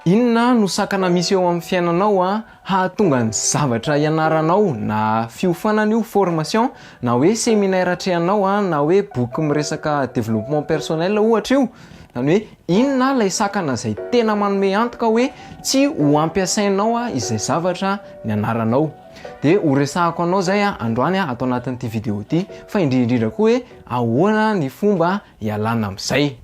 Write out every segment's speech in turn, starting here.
Inona no sakana misy eo amin'ny fiainanao hahatonga ny zavatra ianaranao na fiofanana io formation na hoe seminaire atrehanao na hoe boky miresaka développement personnel ohatra io, izany hoe inona ilay sakana izay tena manome antoka hoe tsy ho ampiasainao izay zavatra nianaranao? dia ho resahako anao izay androany ato anatin'ity vidéo ity fa indrindra indrindra koa hoe ahoana ny fomba hialana amin'izay.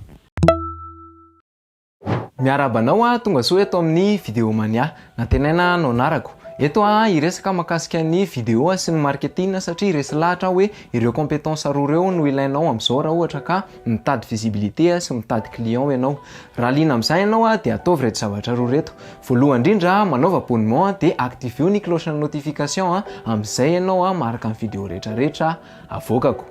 Miarahaba anao a tonga soa eto amin'ny Video Mania. Nantenaina no anarako. Eto aho hiresaka mahakasika ny video sy ny marketing satria resy lahatra aho hoe ireo compétences roa ireo no ilainao amin'izao raha ohatra ka mitady visibilité sy mitady clients ianao. Raha liana amin'izany ianao dia ataovy ireto zavatra roa ireto. Voalohany indrindra manaova abonnement dia activeo ny cloche notification amin'izay ianao maharaka ny video rehetra rehetra avoakako.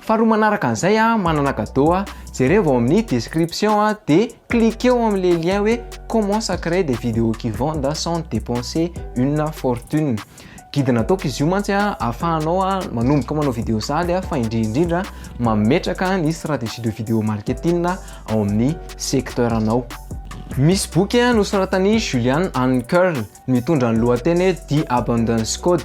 Faharoa manaraka an'izay a, manana cadeau a, jerevo ao amin'ny description a, dia cliquez-o amin'ilay lien hoe comment ça crée des vidéos qui vendent sans dépenser une fortune. Guide nataoko izy io mantsy a, ahafahanao a manomboka manao vidéo sahady a, fa indrindra indrindra mametraka ny stratégie de vidéo marketing ao amin'ny secteur-nao. Misy boky a nosoratan'i Julian Ankerl, Mitondra ny lohateny hoe The Abundance Code.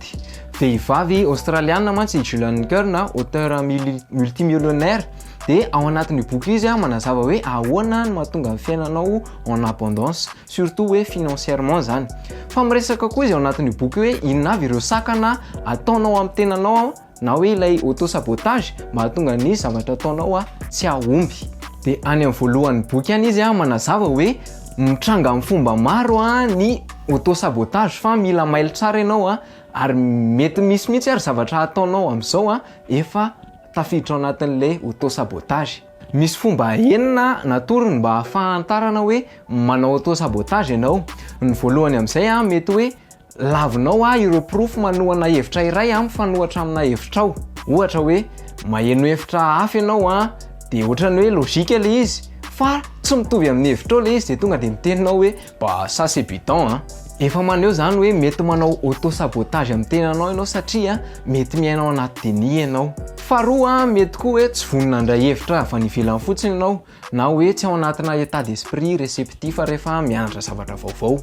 Vehivavy Aostraliana mantsy i Julian Kern, auteur multimillionnaire, dia ao anatin'io boky io izy manazava hoe ahoana no mahatonga ny fiainanao en abondance, surtout hoe financièrement izany. Fa miresaka koa izy ao anatin'io boky io hoe inona avy ireo sakana ataonao amin'ny tenanao na hoe ilay auto sabotage mahatonga ny zavatra ataonao a tsy ahomby. De any am voalohan'ny boky any izy a manazava hoe mitranga am fomba maro a ny auto sabotage fa mila mailo tsara ianao a ary mety misy mihitsy ary zavatra ataonao amzao a efa tafiditra ao anatin'ilay auto sabotage. Misy fomba enina natorony mba ahafahantarana hoe manao auto sabotage ianao, ny voalohany amzay a mety hoe Lavinao ahy ireo porofo manohana hevitra iray aho mifanohatra amina hevitrao. Ohatra hoe maheno hevitra hafa ianao an, dia ohatrany hoe logique ilay izy fa tsy mitovy amin'ny hevitrao ilay izy dia tonga dia miteny ianao hoe bah ça c'est bidon an. Efa maneho izany hoe mety manao auto sabotage amin'ny tenanao ianao satria mety miaina ao anaty déni ianao. Faharoa, mety koa hoe tsy vonona handray hevitra avy any ivelany fotsiny ianao Na hoe tsy ao anatina état d'esprit réceptif rehefa mianatra zavatra vaovao.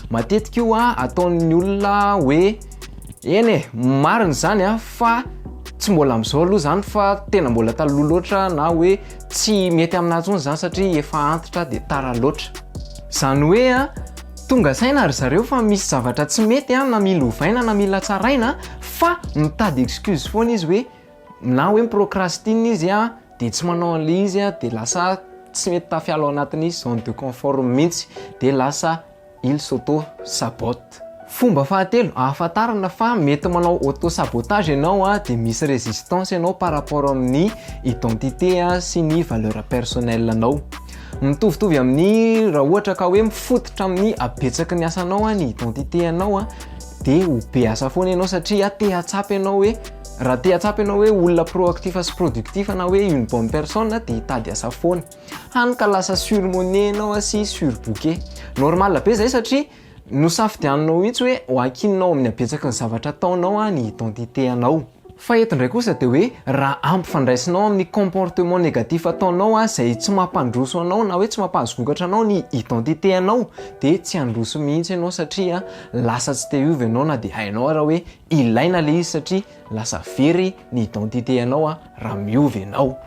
Matetika io ataon'ny olona hoe eny e, marina izany a, fa tsy mbola amin'izao aloha izany fa tena mbola taloha loatra na hoe tsy mety aminà intsony izany satria efa antitra dia tara loatra. Izany hoe tonga saina ry zareo fa misy zavatra tsy mety na mila ovaina na mila tsaraina fa mitady excuse foana izy hoe. Na hoe mi-procrastine izy a, dia tsy manao an'ilay izy a, dia lasa tsy mety tafiala ao anatin'ny zone de confort mihitsy, dia lasa il s'auto-sabote. Fomba fahatelo ahafantarana fa mety manao auto-sabotage ianao a, dia misy résistance ianao par rapport amin'ny identité sy ny valeur personnelle anao. Mitovitovy amin'ny raha ohatra ka hoe mifototra amin'ny habetsaky ny asanao ny identité anao a, dia ho be asa foana ianao satria te hahatsapa ianao hoe Raha te hahatsapa ianao hoe olona proactif sy productif na hoe une bonne personne dia hitady asa foana. Hany ka lasa surmone ianao sy surbooke. Normal be izay satria nosafidianinao mihitsy hoe ho ankininao amin'ny habetsaky ny zavatra ataonao ny identité anao. Fa eto indray kosa dia hoe raha ampifandraisinao amin'ny comportement négatif ataonao izay tsy mampandroso anao na hoe tsy mampahazogokatra anao ny identité anao dia tsy handroso mihitsy ianao satria lasa tsy te hiova ianao na dia hainao ara hoe Ilaina le izy satria lasa very ny identité anao a raha miova ianao.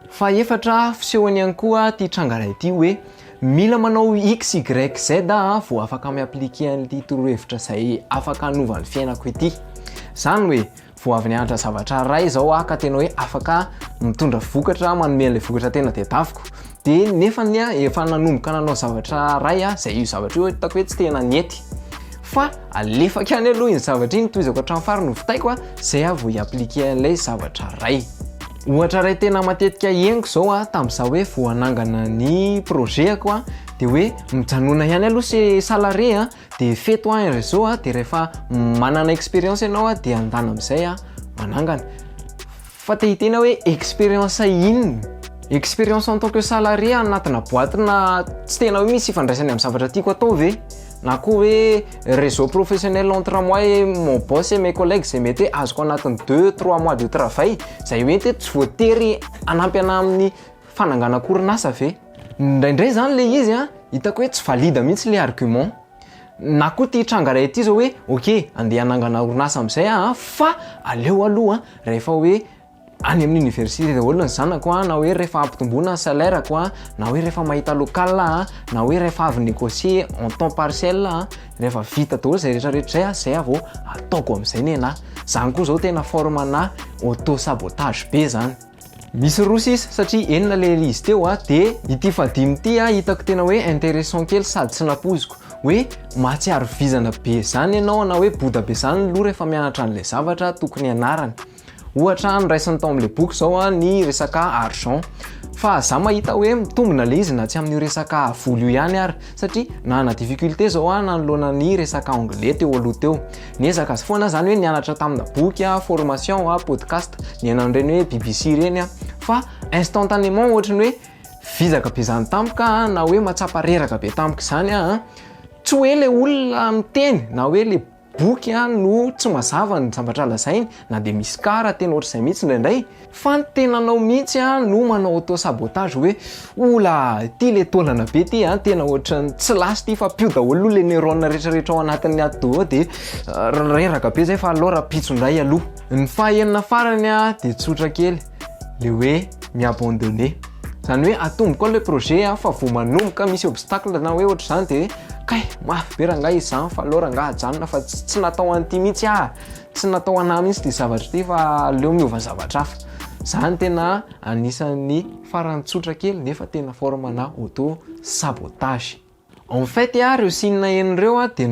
Fahefatra, fisehony ihany koa ity tranga iray ity hoe mila manao XYZ aho vao afaka mi-appliquer an'ity torohevitra izay afaka hanova ny fiainako ity. Izany hoe vao avy nianatra zavatra iray izao aho ka tena hoe afaka mitondra vokatra, manome an'ilay vokatra tena tedaviko. de nefa ny ahy efa nanomboka nanao zavatra ray aho zay io zavatra io hitako hoe tsy tena nety fa alefako ihany aloha iny zavatra iny tohizako hatramin'ny fariny hovitaiko a zay aho vao hi-appliquer an'ilay zavatra ray ohatra ray tena matetika henoko zao a tamin'izaho hoe vao hanangana ny projet-ako a de hoe mijanona ihany aloha se salarié a de feto an ry zo de rehefa manana experience ianao an de andana amizay an manangana fa te hiteny aho hoe experience inona? experience en tant que salarié anatina boite na tsy tena hoe misy ifandraisany amin'ny zavatra tiako atao ve? na koa hoe réseau professionnel entre moi et mon boss et mes collègues izay mety hoe azoko anatin'ny deux trois mois de travail izay mety hoe tsy voatery hanampy anah amin'ny fananganako orinasa ve? Indraindray izany ilay izy an, hitako hoe tsy valide mihitsy ilay argument. Na koa ity tranga iray ity izao hoe ok, andeha hanangana orinasa amin'izay aho an, fa aleo aloha rehefa hoe any amin'ny université daholo ny zanako an, na hoe rehefa ampitomboina ny salaire-ko an, na hoe rehefa mahita local aho an, na hoe rehefa avy négocier en temps partiel aho an, rehefa vita daholo izay rehetrarehetra izay an, izay aho vao ataoko amin'izay ny anah. Izany koa izao tena forme-na auto sabotage be izany. Misy roa sisa satria enina le izy teo a, de ity fahadimy ity a hitako tena hoe intéressant kely sady tsy nampoiziko, hoe mahatsiaro vizana be zany ianao na hoe boda be zany ny loha rehefa mianatra an'ilay zavatra tokony hianarany. Ohatra noraisiny tao amin'ilay boky zao a ny resaka argent, fa za mahita hoe mitombina le izy na tsy amin'io resaka vola io ihany ary, satria nanana difficulté zao a nanoloana ny resaka anglais teo aloha teo. Niezaka azy foana zany hoe nianatra tamina boky a, formation a, podcast, nihaino an'ireny hoe BBC ireny a, fa instantanément ohatry ny hoe vizaka be zany tampoka a, na hoe matsapa reraka be tampoka izany aho a, tsy hoe ilay olona miteny na hoe ilay boky a no tsy mazava ny zavatra lazainy, na dia misy cas raha tena ohatr'izay mihitsy indraindray, Fa ny tenanao mihitsy no manao auto sabotage hoe oula ity le taolana be ity an, tena ohatran'ny tsy last ity fa pio daholo aloha le neurones retraretra ao anatin'ny atidoha ao dia reraka be zay fa aleo rahampitso indray aloha. Ny faha enina farany dia tsotra kely, le hoe mi-abandonner. Izany hoe atomboko aloha le projet an, fa vao manomboka misy obstacle na hoe ohatr'izany dia kay mafy be rangahy izy zany fa aleo rangahy ajanona fa tsy natao an'ity mihitsy ah. Tsy natao ho anah mihitsy ity zavatra ity fa aleo miova zavatra hafa. Zany tena anisan'ny farany tsotra kely nefa tena forme na auto sabotage. En fait, ireo signe enina ireo dia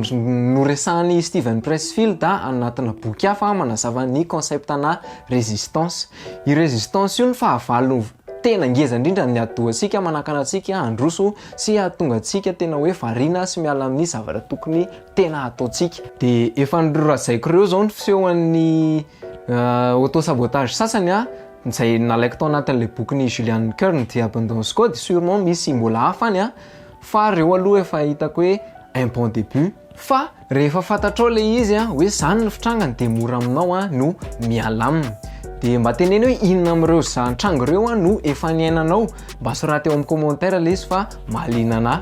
noresahan'i Steven Pressfield anatina boky hafa manazava ny concept-na résistance. Io résistance io no fahavalo tena ngeza indrindra amin'ny atidohantsika manakana antsika handroso sy hahatonga antsika tena hoe variana sy miala amin'ny zavatra tokony tena ataontsika. Dia efa norazaiko ireo izao ny fisehon'ny auto sabotage sasany a, izay nalaiko tao anatin'ilay bokin'i Julian Kern The Abundance Code, sûrement misy mbola hafa any a, fa ireo aloha efa hitako hoe un bon début. Fa rehefa fantatrao ilay izy a, hoe izany no fitrangany dia mora aminao a no miala aminy. Dia mba teneno hoe inona amin'ireo za nitranga ireo a no efa niainanao, mba soraty ao amin'ny commentaire lesy fa mahaliana anah.